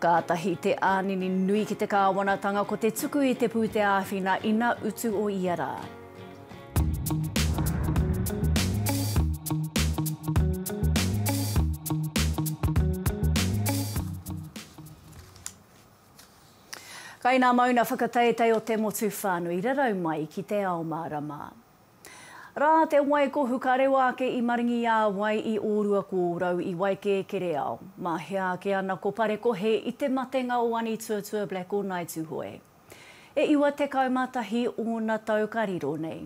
Kātahi te ānini nui ki te kāwanatanga ko te tuku i te pūteāwhina ina utu o ia rā. Kai nā mauna whakateitei o te motu whānui rarau mai ki te ao mārama. Rā te wai ko Hukarewa ake i maringi i a wai i ōrua ko ōrau i Waikēkereao. Mā hea ake ana ko Parekohe i te matenga o Anituatua Black o Ngai Tuhoe. E iwa tekau mā tahi ōna tau ka riro nei.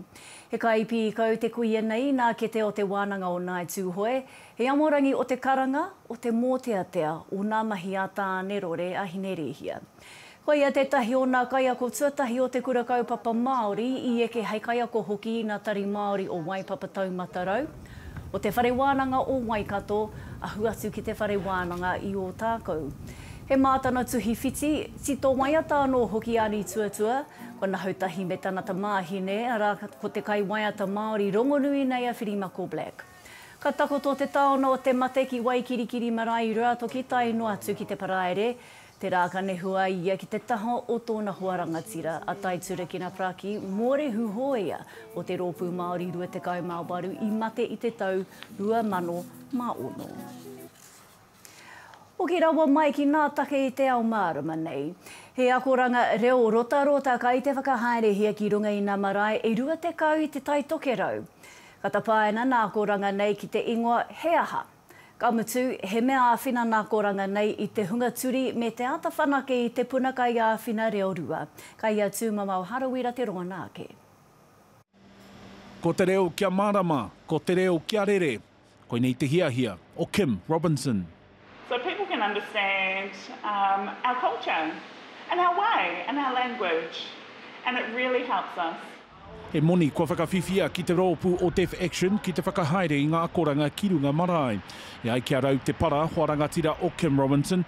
He kai pīkau te kuia nei nā kete o te wānanga o Ngai Tuhoe, he amorangi o te karanga, o te mōteatea o nā mahi a Tāne Rore a Hinerēhia. Koia tētahi o nā kaiako tuatahi o te Kura Kaupapa Māori i eke hei kaiako hoki i nā Tari Māori o Waipapa Taumata Rau, o Te Whare Wānanga o Waikato, ahu atu ki Te Whare Wānanga i Ōtākou. He mā tana tuhi whiti, tito waiata anō hoki a Nītuatua, ko Nahoutahi me tana tamāhine, arā, ko te kaiwaiata Māori rongonui nei a Whirimako Black. Ka takoto te taona o te mate ki Waikirikiri marae i Ruatoki tae noa atu ki te Paraire, Tērā ka nehu a ia ki te taha o tōna hoa rangatira, a Tai Turekina Praki, mōrehu hōia o te Rōpū Māori Rua Tekau mā Waru i mate i te tau 2006. Hoki rawa mai ki ngā take i te ao mārama nei. He akoranga reo rotarota kai te whakahaerehia ki runga i ngā marae e 20 i Te Tai Tokerau. Ka tapaina nā akoranga nei ki te ingoa He aha? Ka mutu, he mea āwhina nā Koranga nei i te hunga turi me te āta whanake i te puna kaiāwhina reo rua. Ka ia tūmamao Harawira te rongona ake. Ko te reo kia mārama, ko te reo kia rere, koinei te hiahia o Kim Robinson. So people can understand our culture and our way and our language and it really helps us. He moni kua whakawhiwhia ki te roopu o Deaf Action ki te whakahaere i nga akoranga ki runga marae. E ai ki a Rau Te Para, hoa rangatira o Kim Robinson,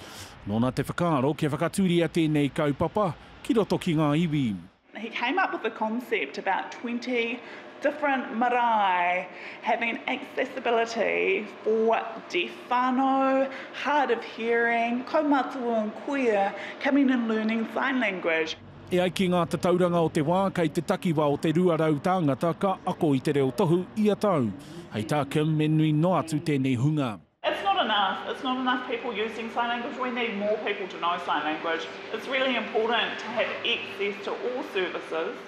nona te whakaaro kia whakaturia tenei kaupapa ki roto ki nga iwi. He came up with the concept about twenty different marae having accessibility for deaf whanau, hard of hearing, kaumātua and kuia coming and learning sign language. E ai ki ngā tatauranga o te wā, kei te takiwā o te 200 tāngata ka ako i te reo tohu ia tau. Hei tā Kim, me nui noa atu tēnei hunga. It's not enough, it's not enough people using sign language, we need more people to know sign language. It's really important to have access to all services.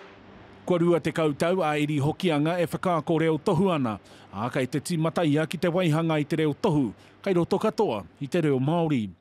Kua 20 tau a Eri Hokianga e whakaako reo tohu ana, ā, kei te tīmata ia ki te waihanga i te reo tohu, kei roto katoa i te reo Māori.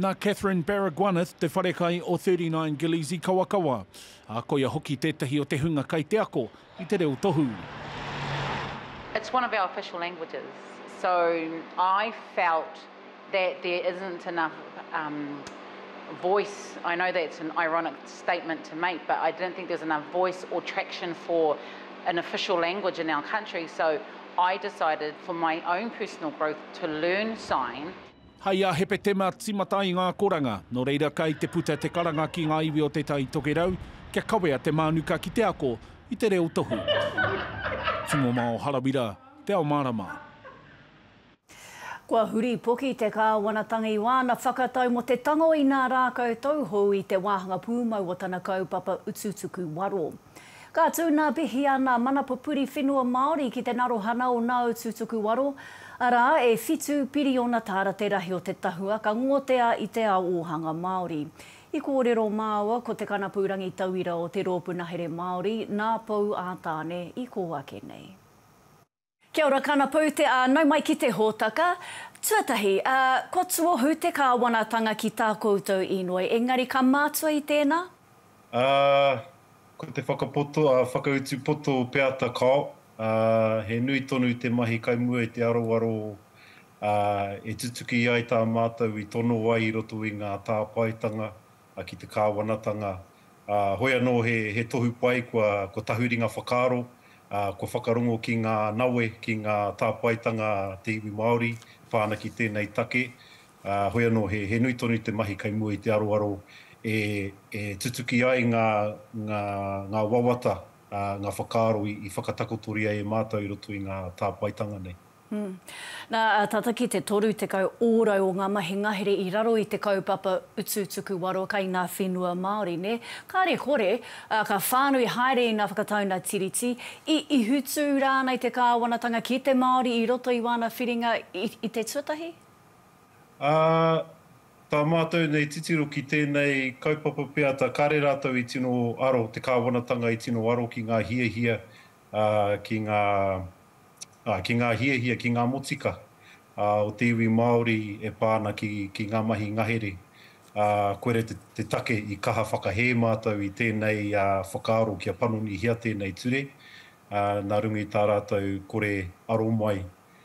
Nā Catherine Baragwanath te wharekai o Thirty Nine Gillies i Kawakawa, ā, koia hoki tētahi o te hunga kai te ako i te reo tohu. It's one of our official languages, so I felt that there isn't enough voice, I know that's an ironic statement to make, but I didn't think there was enough voice or traction for an official language in our country, so I decided for my own personal growth to learn sign. Hai a Hepetema timata ai ngā koranga, nō reira kai te puta te karanga ki ngā iwi o Te Tai Tokerau kia kawea te mānuka ki te ako i te reo tohu. Tūmomao Harawira, Te Ao Mārama. Kua huri poki te Kāwanatanga i wāna whakatau mō te tango inā rākau tauhou i te wāhanga pūmau o tana kaupapa utu tuku waro. Ka tū nā Pihia nā Mana Pupuri Whenua Māori ki te narohana o Nāutu Tukuwaro, arā, e whitu piriona tāra te rahi o te tahua ka ngotea i te ao ōhanga Māori. I kōrero māua ko te kanapu rangitauira o te Rōpu Nahere Māori nā Pou ā-Tāne i kō ake nei. Kia ora Kana Pou te a nau mai ki te hotaka. Tuatahi, a, kua tuohu te Kāwanatanga ki tā koutou inoi, engari ka mātua i tēnā? A, ko te whakapoto, a, whakautu poto peata kao, a, he nui tonu te mahi kai mua i te aroaro, a, e tutuki ai tā mātou i tono ai i roto i ngā tāpaetanga ki te kāwanatanga, ā, hoi anō he, he tohu pai kua, kua tahuri ngā whakaaro, ā, kua whakarongo ki ngā nawe, ki ngā tāpaetanga a te iwi Māori pā ana ki tēnei take, ā, hoi anō he, he nui tonu te mahi kei mua i te aroaro e, e tutuki ai ngā, ngā, ngā wawata, ā, ngā whakaaro i, i whakatakotoria e mātou i roto i ngā tāpaetanga nei. Nā, tata ki te 30 ōrau o ngā mahi ngahere i raro i te kaupapa Utu Tuku Waro kei ngā whenua Māori, nē? Kāre kore, ā, ka whānui haere ina whakatauna tiriti, i ihutū rānei te kāwanatanga ki te Māori i roto i wāna whiringa i te tuatahi? Ā, tā mātou nei titiro ki tēnei kaupapa pea, tā kāre rātou i tino aro, te kāwanatanga i tino aro ki ngā hiahia ki ngā, ā, ki ngā hiahia, ki ngā motika, ā, o te iwi Māori e pā ana ki, ki ngā mahi ngahere, ā, koira te, te take i kaha whakahē mātou i tēnei, ā, whakaaro kia panonihia tēnei ture, ā, nā runga i tā rātou kore aro mai.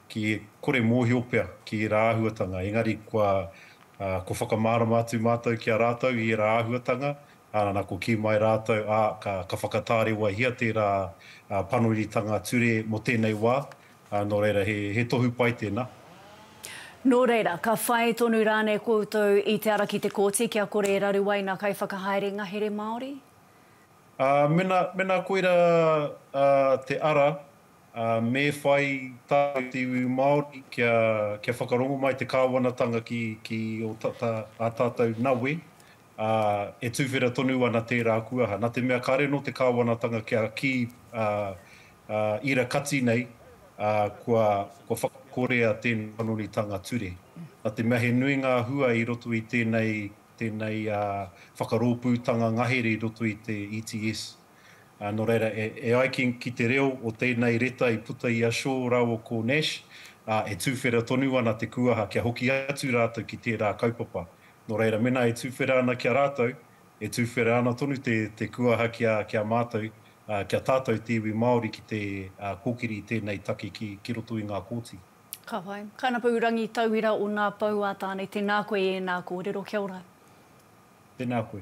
ki kore mōhio pea ki ērā āhuatanga, engari kua kua whakamārama atu mātou ki a rātou i ērā āhuatanga, ā, nā kua kī mai rātou, ā, ka, ka whakatārewahia tērā panonitanga ture mō tēnei wā, ā, nō reira he, he tohu pai tēnā. Nō reira, ka whai tonu rānei koutou i te ara ki te kōti kia kore e raru ai ngā kaiwhakahaere ngahere Māori? Ā, mena, mena koira, ā, te ara, ā, me whai tātou te iwi Māori kia, kia whakarongo mai te Kāwanatanga ki, ki ō tata, ā tātou nawe, ā, e tuwhera tonu ana tērā kuaha. Nā te mea kāre anō te Kāwanatanga kia kī, ā, ā, ira kati nei, ā, kua, kua whakakorea tēnei panonitanga ture. Nā te mea he nui ngā hua i roto i tēnei, tēnei, ā, whakarōpūtanga ngahere i roto i te ETS. Nō reira, e ai ki te reo o tēnei reta i puta i a Shaw rāua ko Nash, e tuwhera tonu ana te kūaha kia hoki atu rātou ki tērā kaupapa. Nō reira, mēnā e tuwhera ana ki a rātou, e tuwhera ana tonu te kūaha ki a mātou, ki a tātou te iwi Māori ki te kōkiri i tēnei take ki roto i ngā kōti. Ka pai. Kainapou Rangitauira o Ngā Pou a Tāne, tēnā koe i ēnā kōrero. Kia ora. Tēnā koe.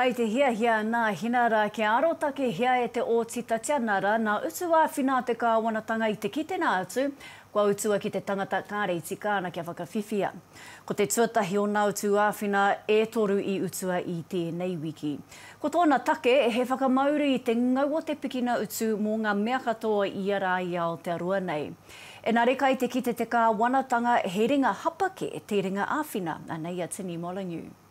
Kai te hiahia nā Hina rā kia arotakehia e te Ōti Tatiana rā nā utu āwhina a te Kāwanatanga i te kitenga atu kua utua ki te tangata kāre i tika ana kia whakawhiwhia. Ko te tuatahi o nā utu āwhina e toru i utua i tēnei wiki. Ko tōna take he whakamauru i te ngau o te pikina utu mō ngā mea katoa i ia rā i Aotearoa nei. Enare kai te kite te Kāwanatanga he ringa hapa kē te ringa āwhina, anei a Timi Molyneux.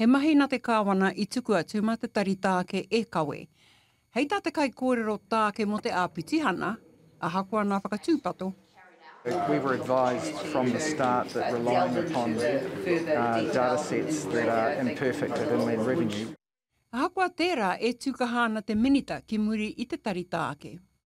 He mahi na te Kawana i tuku atu ma te tari taake e kawe. Hei ta te kaikōrero taake mo te Apitihana, ahakoa na whakatūpato, We were advised from the start that relying upon datasets that are imperfect at Inland Revenue. Ahakoa tērā, e tūkaha ana te Minita ki muri i te tari taake.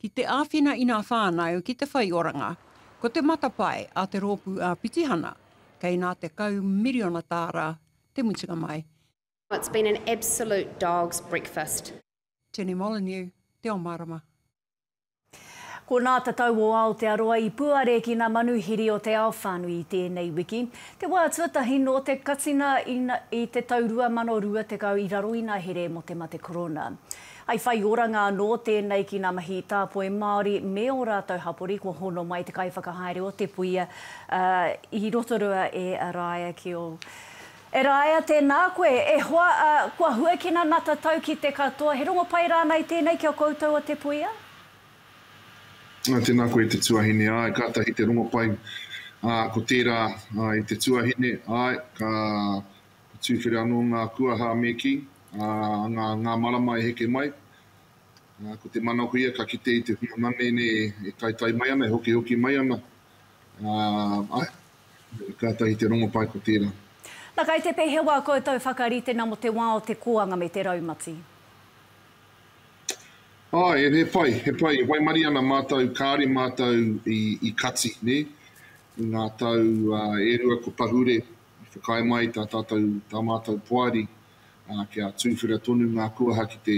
Ki te āwhina i nā whānau ki te whai oranga, ko te matapae a te Rōpū Āpitihana, kei nā 10 miriona tāra te mutunga mai. It's been an absolute dog's breakfast. Tene Molyneux, Te Ao Mārama. Ko Nā Te Tau o Aotearoa i puare ki nā manuhiri o te ao whānui i tēnei wiki, te wā tuatahi nō te katinga i te tau 2020 i raro i nā here mō te mate korona. I whai oranga anō tēnei ki ngā mahi tāpoi Māori me ō rātou hapori kua hono mai te kaiwhakahaere o te puia i Rotorua e Raea ki ō. E Raea, tēnā koe. E hoa, ā, kua huakina nā tatau ki te katoa. He rongo pai rānei tēnei ki a koutou o Te Puia? Ā, tēnā koe te tuahine. Āe, kātahi te rongo pai. Ā, ko tērā, ā, i te tuahine, āe, ka He tuwhera anō ngā kuaha me kī, ā, ngā, ngā marama e heke mai, ā, ko te manakoia ka kite i te hunga manene e taetae mai ana, e hokihoki mai ana, ā, āe, kātahi te rongopai ko tērā. Na kai te pehewa koutou whakarite na mo te wa o te koanga me te raumati? Ae, he pai, he pai, e waimari ana matou, kaare matou i, i kati, ne? I nga tau e rua ko pahure. I whakaae mai tā tātou, tā mātou poari, kia tūwhera tonu ngā kuaha ki te,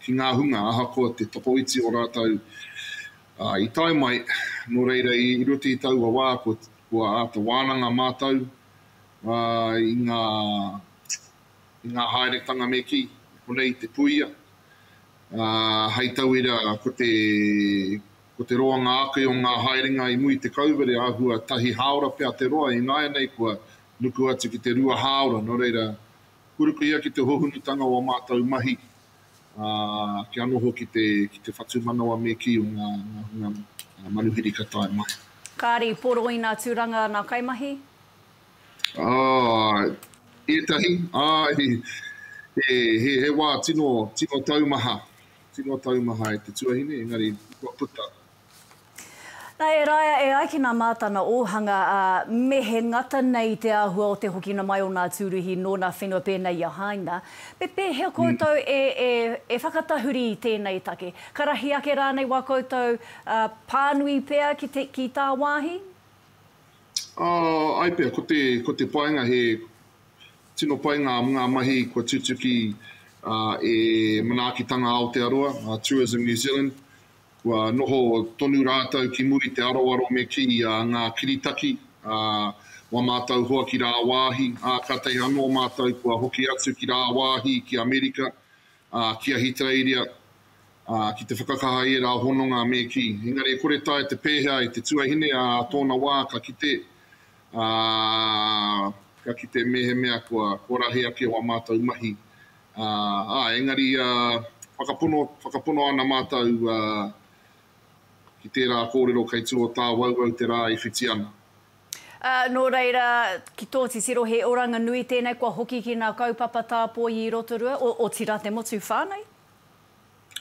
ki ngā hunga ahakoa te tokoiti o rātou i tae mai, nō reira i roto i taua wā kua, kua āta wānanga mātou i ngā, i ngā haeretanga me kī, i konei i te puia, hei tauira ko te, Ko te roa ngā ake o ngā haerenga i muri te kauwere āhua tahi hāora pea te roa i nāianei kua nuku atu ki te rua hāora nō reira kua ruku ia ki te hohunutanga o a mātou mahi ā kia noho ki te ki te whatumanawa me kī o ngā ngā hunga manuhiri ka tae mai. Kāri, Poroina Turanga nā kaimahi? Āe. Ētahi, āe he he wā tino tino taumaha Tino taumaha e te tuahine, engari kua puta. Na, e Raea, e ai ki na Matana Ohanga, a, me he ngata nei te ahua o te hokina mai o na Turuhi no na whenua penei i a Haina. Me pehea koutou e, e, e whakatahuri i tenei take? Ka rahi ake ranei wa koutou, a, panui pea ki te, ki ta wahi? Oh, ai pea, ko te, ko te painga he, Tino pai ngā ngā mahi kua tutuki e Manaakitanga Aotearoa, Tourism New Zealand. Kua noho tonu rātou ki muri te aroaro me kī a ngā kiritaki a wa mātou hoa ki rāwāhi, ā, kātahi anō mātou kua hoki atu ki rāwāhi ki Amerika ā, ki Ahitereiria, ā, ki te whakakaha i ērā hononga me kī. Engari e kore taea te pēhea e te tuahine ā tōna wā ka kite, ā, ka kite mēhemea kua, kua rahi ake wā mātou mahi, ā, ā, engari, ā, whakapono, whakapono ana mātou, ā, ki tērā kōrero kei tū o tāwauwau te rā i whiti ana. Ā, nō reira, ki tō titiro he oranga nui tēnei kua hoki ki ngā kaupapa tāpoi i Rotorua, otirā te motu whānui?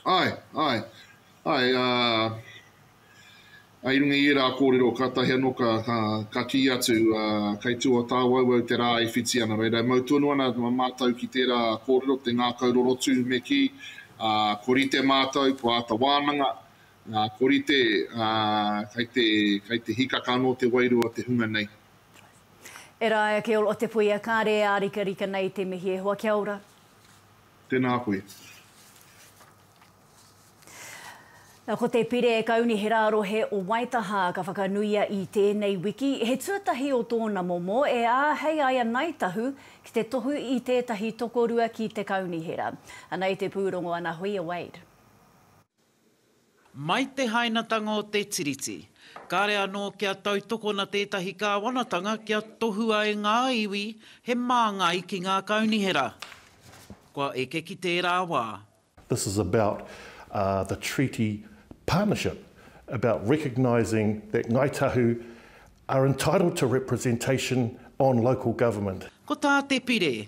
Āe, āe, āe, ā, i runga i ērā kōrero kātahi anō ka, ka kī atu, ā, kei tua o tāuauau te rā e whiti ana. Reira, e mau tonu ana mātou ki tērā kōrero, te ngākau rorotu me kī, ā, ko rite mātou, ko āta wānanga, Ngā korite, ā, kai te, kai te hikaka anō te wairua o te hunga nei. E Rae ake ol o te puia kare e ārikarika nei te mihi e hoa kia ora. Tēnā koe. Na, ko te Pire Kaunihera Rohe o Waitaha ka whakanuia i tēnei wiki, he tuatahi o tōna momo e āhei ai a Ngāi Tahu ki te tohu i tētahi tokorua ki te Kaunihera. Anei te pūrongo Ana Huia Wade. Mai te hainatanga o te Tiriti, kāre anō kia tautokona tētahi kāwanatanga kia tohua e ngā iwi he māngai ki ngā kaunihera. Kua eke ki tērā wā. This is about the treaty partnership, about recognising that Ngāi Tahu are entitled to representation on local government. Ko tā Te Pire,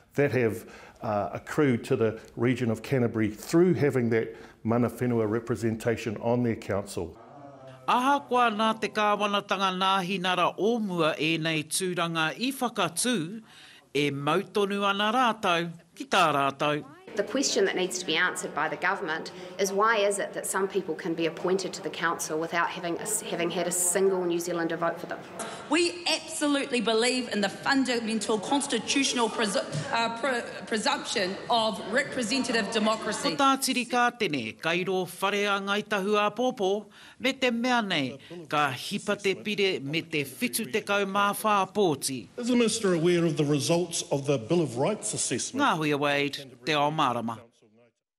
that have accrued to the region of Canterbury through having that mana whenua representation on their council. Ahakoa nā te kāwanatanga nāhinara o mua ēnei tūranga i whakatū, e mau tonu ana rātou ki tā rātou. The question that needs to be answered by the government is why is it that some people can be appointed to the council without having had a single New Zealander vote for them? We absolutely believe in the fundamental constitutional presumption of representative democracy. Ko tā Tiri Kātene, kai rō whare a Ngāi Tahu-āpōpō, me te mea nei, ka hipa te pire me te 74 pōti. Is the Minister aware of the results of the Bill of Rights assessment? Ngāhuia Wade, Te Ao Mārama.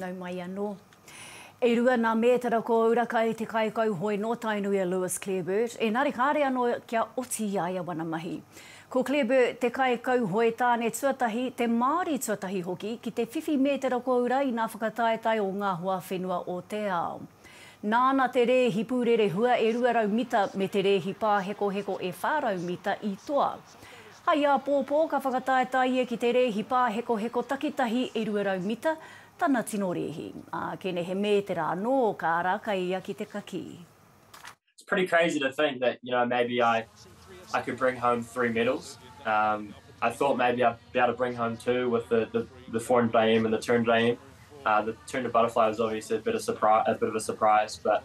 Nau mai anō. E rua nā mētara ko Urakai te kaikauhoe nō Tainui a Lewis Clareburt, ēnari kāre anō kia oti i a ia wana mahi. Ko Clareburt te kaikauhoe tāne tuatahi, te Māori tuatahi hoki, ki te whiwhi mētara ko ura i nā whakataetae o ngā hoa whenua o te ao. Nāna te rēhi pūrerehua e 200 mita me te rēhi pāhekoheko e 400 mita i toa. Hai āpōpō ka whakataetae ia ki te rēhi pāhekoheko takitahi e 200 mita tana tino rēhi, ā, kene he mētera anō ka ara kai ia ki te kakī. It's pretty crazy to think that you know maybe I I could bring home three medals um I thought maybe I'd be able to bring home two with the the the 400 IM and the 200 IM uh the 200 butterfly was obviously a bit of a surprise but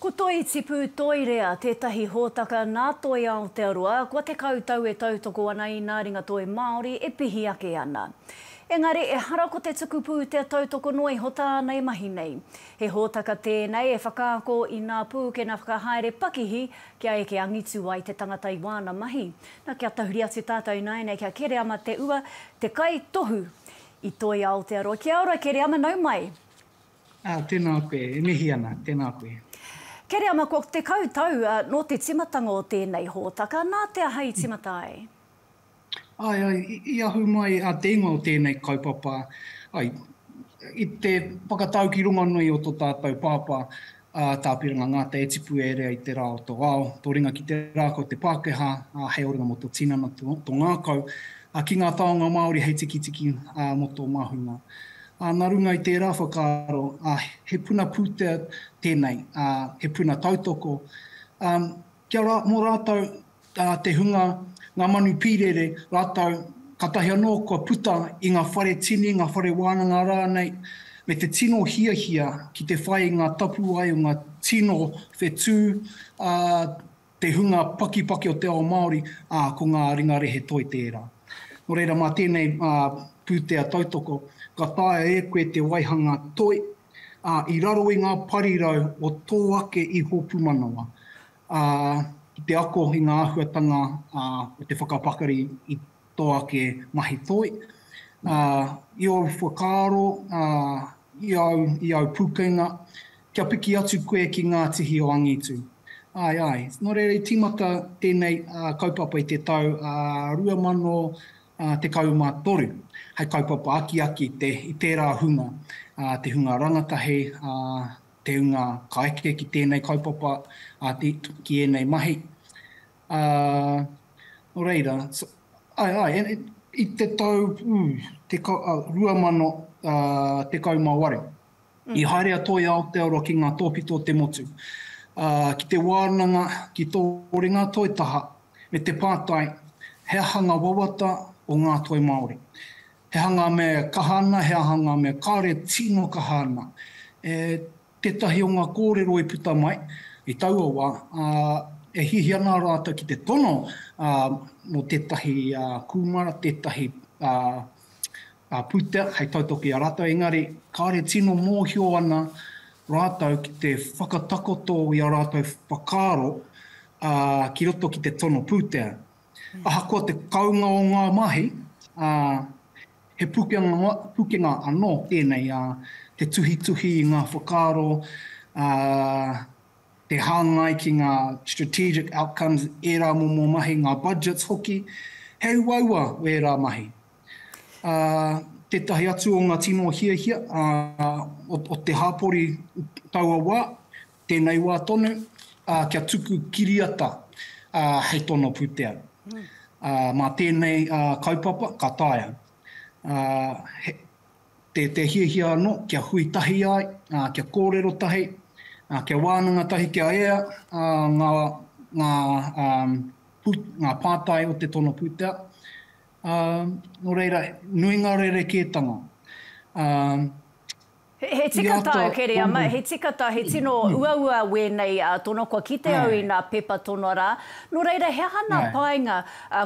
Ko Toi Tipu Toirea tētahi hōtaka nā Toi Aotearoa kua tekau tau e tautoko ana i nā ringa toi Māori e pihi ake ana. Engari ehara ko te tuku pūtea tautoko noa iho tāna e mahi nei. He hōtaka tēnei e whakaako i nā pūkena whakahaere pakihi kia eke angitu ai te tangata i wāna mahi. Na, kia tahuri atu tātou ināianei kia Kereama Te Ua, te kaitohu i Toi Aotearoa. Kia ora Kereama, nau mai! Ah, tēnā koe. E mihi ana. Tēnā koe. Kereama, kua tekau tau nō te timatanga o tēnei hōtaka, nā te aha i timata ai? Ae, ae, i ahu mai a te ingoa o tēnei kaupapa, ae, i te whakatau ki rongonui o to tātou pāpā, a Tāpiranga Ngata e tipu e rea i te rā o tō ao, tō ringa ki te rā kau te Pākehā, ā, hei oringa mō tō tinana, tō ngākau, ā, ki ngā taonga Māori hei tikitiki, ā, mō tō mahunga. Ā, nā runga i tērā whakaaro, ā, he puna pūtea tēnei, ā, he puna tautoko, ā, kia rā, mō rātou, tā te hunga, ngā manu pīrere rātou, kātahi anō kua puta i ngā whare tini, ngā whare wānanga rānei, me te tino hiahia ki te whai i ngā tapuwae o ngā tino whetū a te hunga pakipaki o te ao Māori, ā, ko ngā ringa rehe toi tērā. Nō reira, mā tēnei pūtea tautoko, ka taea e koe te waihanga toi, ā, i raro i ngā parirau o tō ake iho pūmanawa. ā, ki te ako i ngā āhuatanga o te whakapakari i tō ake mahi toi, ā, i ōu whakaaro, ā, i āu, i āu pūkenga, kia piki atu koe ki ngā tihi o angitu. Āe, āe. Nō reira i tīmata tēnei kaupapa i te tau 2013, hei kaupapa akiaki i tērā hunga, te hunga rangatahi, ā, Te unga ka eke ki tēnei kaupapa, ā, ki ēnei mahi. Ā, nō reira, āe, āe, i te tau, ū, te ka, ā, 2018, i haere a Toi Aotearoa ki ngā tōpito o te motu, ā, ki te wānanga, ki tō ringa toi taha, me te pātai, he aha ngā wawata o ngā toi Māori. He aha ngā mea e kaha ana, he aha ngā mea kāore tino kaha ana. E tētahi o ngā kōrero i puta mai i taua wā, ā, e hiahia ana rātou ki te tono mō tētahi kūmara, tētahi pūtea hei tautoko i a rātou, engari kāore tino mōhio ana rātou ki te whakatakoto i ā rātou whakaaro ki roto ki te tono pūtea. Ahakoa te kounga o ngā mahi, ā, he pukenga, pukenga anō tēnei, ā, te tuhituhi i ngā whakaaro, ā, te hāngai ki ngā strategic outcomes, ērā momo mahi, ngā budgets hoki, he uaua ērā mahi. Ā, tētahi atu o ngā tino hiahia, ā, o, o te hāpori taua wā, Tēnei wā tonu, ā, kia tuku kiriata, ā, hei tono pūtea. Ā, mā tēnei, ā, kaupapa, ka taea, ā, he, te, te hiahia anō kia hui tahi ai, ā, kia kōrero tahi, ā, kia wānanga tahi, kia ea, ā, ngā, ngā, ā, pū, ngā pātai o te tono pūtea. Ā, nō reira, nui ngā rerekētanga. Ā, He tika tāu kere ama, he tika tā, he tino uaua wēnei tono, kua kite au i nā pepa tono rā. Nō reira, he aha nā painga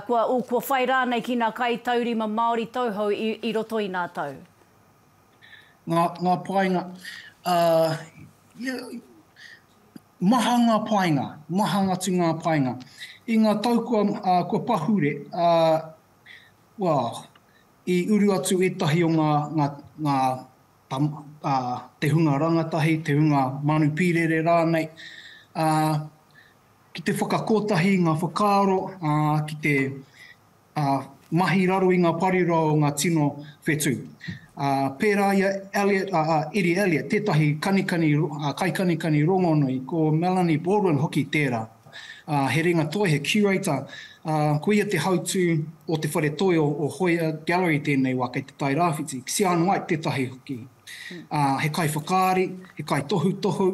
kua whai rānei ki nā kai taurima Māori tauhou i roto i nā tau? Ngā painga, maha ngā painga, maha atu ngā painga. I ngā tau kua pahure, I uru atu ētahi o ngā, ngā, ngā tam, ā, te hunga rangatahi, te hunga manu pīrere rānei, ā, ki te whakakotahi i ngā whakaaro, ā, ki te, ā, mahi raro i ngā parirau o ngā tino whetū. Ā, pērā i a Elliot, ā, ā, Eddie Elliot, tētahi kanikani, ā, kaikanikani rongonui, ko Melanie Baldwin hoki tērā. Ā, he ringa toi, he curator, ā, ko ia te hautū o te whare toi o Hoia Gallery tēnei wā kei Te Tai Rāwhiti, Xian White tētahi hoki. Ā, he kaiwhakaari, he kaitohutohu,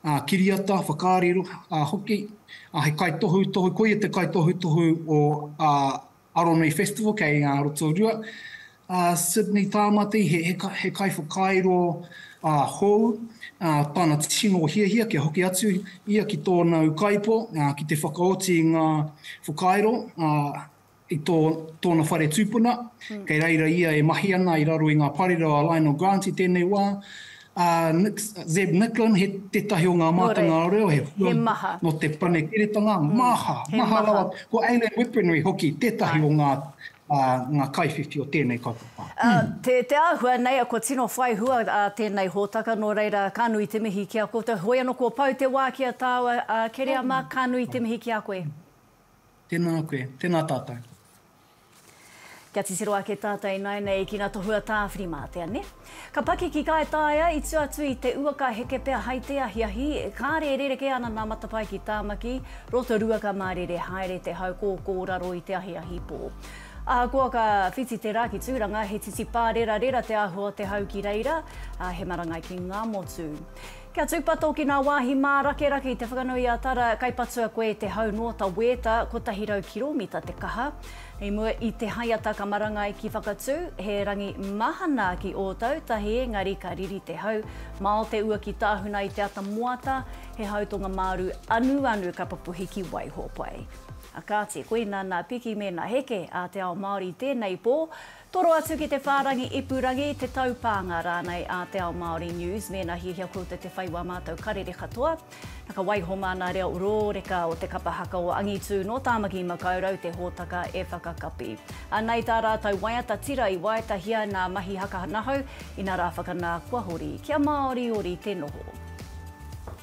ā, kiriata, whakaari hoki, ā, he kaitohutohu, ko ia te kaitohutohu o Aronui Festival kei a Rotorua. A Sydney Tāmati, he kaiwhakairo hou, tana tino hiahia kia hoki atu ia ki tōna ukaipo ki te whakaoti i ngā whakairo i tōna whare tūpuna. Kei reira ia e mahi ana i raro i ngā parirau a Lionel Grant i tēnei wā. A Zeb Nicklin, he tētahi o ngā mātanga reo, he hua nō te panekiretanga, maha, maha rawa. Ko Aileen Whipreney hoki, tētahi o ngā ngā kaiwhiwhi o tēnei kaupapa. Te āhua nei, kua tino whai hua tēnei hōtaka, nō reira, ka nui te mihi ki a koutou. Hoi anō, kua pau te wā ki a tāua, Kereama, ka nui te mihi ki a koe. Tēnā koe, tēnā tātou. Kia titiro ake tata inainei ki nga tohu a Tawhirimātea, ne? Ka pakiki kaitaia i tua atu i te ua ka heke pea hai te ahiahi, kare e rereke ana na Matapae ki Tamaki, Rotorua ka marere haere te hau kōkō raro i te ahiahi pō. Ahakoa ka whiti te ra ki Turanga, he titipā rerarera te ahua o te hau ki reira, he marangai ki nga motu. Kia tūpato ki ngā wāhi mārakerake i te whakanui a Tara, kai patua koe i te hau noa ta wēta, 100 kiromita te kaha. I mua i te haiata ka marangai ki Whakatū, he rangi mahana ki Ōtautahi engari ka riri te hau mao te ua ki Tāhuna i te ata moata, he hau tonga māru anuanu ka papuhi ki Waihōpai. Kāti, koina nā Piki me nā Heke a te ao Māori i tēnei pō. Toro atu ki te whārangi ipurangi, te taupānga rānei a Te Ao Māori News mēnā hiahia koutou te whai wā mātou karere katoa. Na ka waiho māna reo rōreka o te kapa haka o Angitū nō Tāmaki Makaurau te hōtaka e whakakapi. Anei tā rātou waiata tira i waetahia nā Mahi Haka Nahau, inarā whakanā kua hori kia māoriori te noho.